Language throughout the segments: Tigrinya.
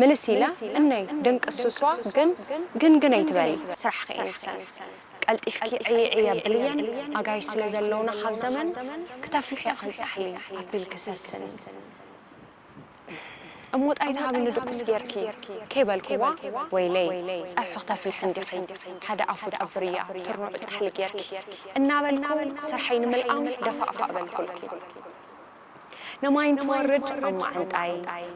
ምልስ ኢላ እነይ ድንቂ ሱስዋ ግን ግን ግን ኣይትበሊ ስራሕኺ እዩ ንሰን ቀልጢፍኪ ዕይ ዕይ ኣብልየን ኣጋይሽ ስለ ዘለውና ካብ ዘመን ክተፍልሕዮ ኣንጻሕሊ ኣቢልኪ ሰስኒ እሞ ጣይ ትሃብኒ ድቁስ ጌርኪ ከይበልክዋ ወይለይ ጸብሒ ክተፍልሒ እንዲኺ ሓደ ኣፉ ጠብርያ ትርኑዕ ጻሕሊ ጌርኪ እናበልኩ ስራሐይ ንምልኣም ደፋእፋእ በልኩልኪ። ንማይ እንትወርድ ኣብ ማዓንጣይ፣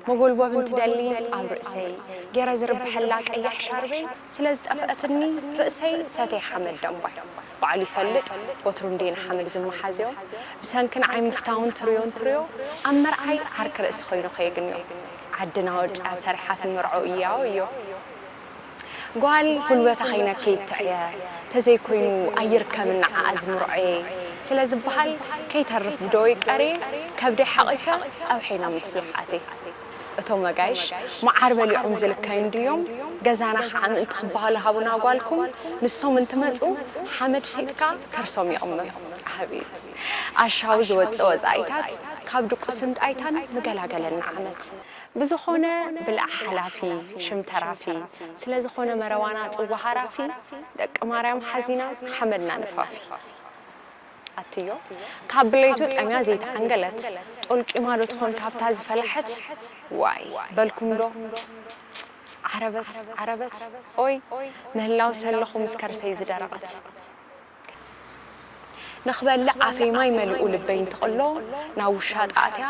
መጎልበቢ እንትደሊ ኣብ ርእሰይ ጌረ ዝርብሐላ ቀያሕ ሻርበይ ስለ ዝጠፍኣትኒ ርእሰይ ሰቴ ሓመድ ደንባይ ባዕሉ ይፈልጥ ወትሩ እንድየ ንሓመድ ዝመሓዝዮ ብሰንኪ ንዓይ ምፍታው እንትርዮ እንትርዮ ኣብ መርዓይ ዓርኪ ርእሲ ኮይኑ ከየግንዮ ዓድና ወርጭያ ሰሪሓት ንመርዕኡ እያወዮ ጓል ጉልበታ ከይነክይት ትዕየ ተዘይኮይኑ ኣይርከብን ንዓኣ ዝምርዖየ ስለ ዝበሃል ከይተርፍ ብደወይ ቀርየ ከብደይ ሓቚፈ ጸብሐይ ናብ ምፍላሕ ኣትየ። እቶም ኣጋይሽ መዓር በሊዖም ዝልከዩ እንድዮም ገዛና ከኣ ምእንቲ ክበሃሉ ሃቡና ጓልኩም ንሶም እንትመጹ ሓመድ ሸይጥካ ከርሶም ይቕመም። ኣቤት ኣሻዊ ዝወጽእ ወጻኢታት ካብ ድቁስን ጣይታን ምገላገለና ዓመት። ብዝኾነ ብላዕ ሓላፊ ሽም ተራፊ ስለዝኾነ መረዋና ጽዋ ሃራፊ ደቂ ማርያም ሓዚና ሓመድና ንፋፊ ኣትዮ ካብ ብለይቱ ጠምያ ዘይተዓንገለት ጦልቂማ ዶ ትኾን ካብታ ዝፈላሐት ዋይ በልኩም ዶ ጽጽጽጽ ዓረበት ዓረበት ኦይ ምህላው ሰለኹ ምስ ከርሰይ ዝደረቐት። ንኽበልዕ ኣፈይ ማይ መሊኡ ልበይ እንትቕሎ ናብ ውሻጠ ኣትያ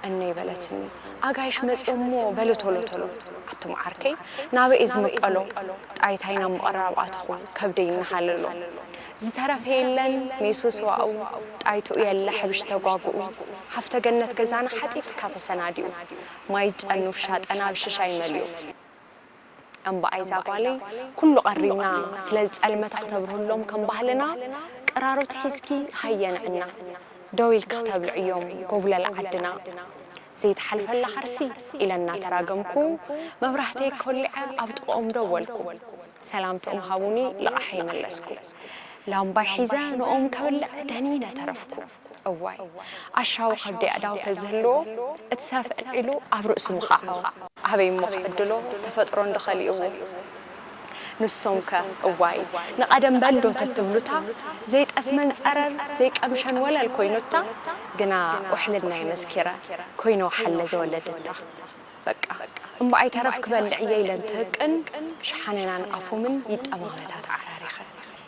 እነይ በለትኒ ኣጋይሽ መፅዮምሞ በሊ ቶሎ ቶሎ ኣቱም ዓርከይ ናበይ'የ ዝምቀሎ ጣይታይ ናብ ምቕራብ ኣተኹ ከብደይ እናሃለሎ ዝተረፈ የለን ሜሱ ስዋኡ ጣይትኡ የለ ሕብሽ ተጓጉኡ ሃፍተ ገነት ገዛና ሓጢጥካ ተሰናዲኡ ማይ ጨን ውሻጠና ብሽሻይ መሊኡ እምበኣይ ዛጓለይ ኩሉ ቀሪብና ስለዚ ጸልመታ ክተብርህሎም ከም ባህልና ቅራሮት ሒዝኪ ሃየ ንዕና ደው ኢልኪ ክተብልዕዮም ጎብለል ዓድና ዘይትሓልፈላ ከርሲ ኢለ እናተራገምኩ መብራህተይ ኮሊዐ ኣብ ጥቕኦም ደወልኩ ሰላምትኦም ሃቡኒ ልቓሐይ መለስኩ ላምባይ ሒዘ ንኦም ከብልዕ ደኒነ ተረፍኩ። እዋይ ኣሻዊ ከብዲ ኣእዳው ተዝህልዎ እቲ ሰፍ ኣልዒሉ ኣብ ርእሱ ምኻዕዎ። ኣበይ እሞ ክዕድሎ ተፈጥሮ እንዶ ከሊእዎ። ንሶም ከ እዋይ ንቀደም በል ዶ ተትብሉታ ዘይጠስመን ጸረር ዘይቀምሸን ወለል ኮይኑታ ግና ውሕልናይ መስኪረ ኮይኖ ሓለ ዘወለድታ በቃ እምበኣይ ተረፍ ክበልዕ እየ ኢለን ትህቅን ሸሓነናን ኣፎምን ይጠማመታ ተዓራሪኸን።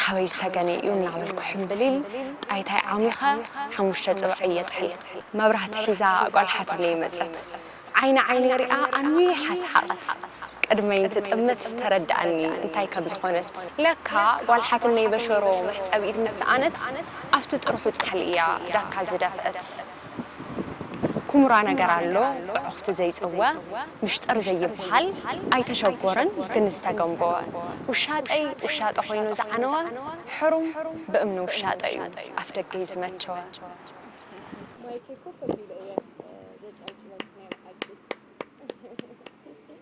ካበይ ዝተገነ እዩ እናበልኩ ሕምብሊል ጣይታይ ዓሚኸ ሓሙሽተ ጽባሕ እየ ጥሒል። መብራህቲ ሒዛ ቈልሓ ትብለይ መጸት። ዓይኒ ዓይነይ ሪኣ ኣንዊሓ ሰሓቐት። ቅድመይ እንትጥምት ተረድኣኒ እንታይ ከም ዝኾነት። ለካ ጓል ሓትነይ በሸሮ መሕጸቢት ምስ ሰኣነት ኣብቲ ጥርሑ ጻሕሊ እያ ዳካ ዝደፍእት። ኩምራ ነገር ኣሎ ብዕኹቲ ዘይጽወ ምሽጥር ዘይብሃል ኣይተሸጎረን ግን ዝተገምቦወ ውሻጠይ ውሻጠ ኮይኑ ዝዓነወ ሕሩም ብእምኒ ውሻጠ እዩ ኣፍደገይ ዝመቸወ። ማይከይ ኮፍ ኣቢሉ እየ ዘጨብጭበልኪ ናይ ብሓቂ።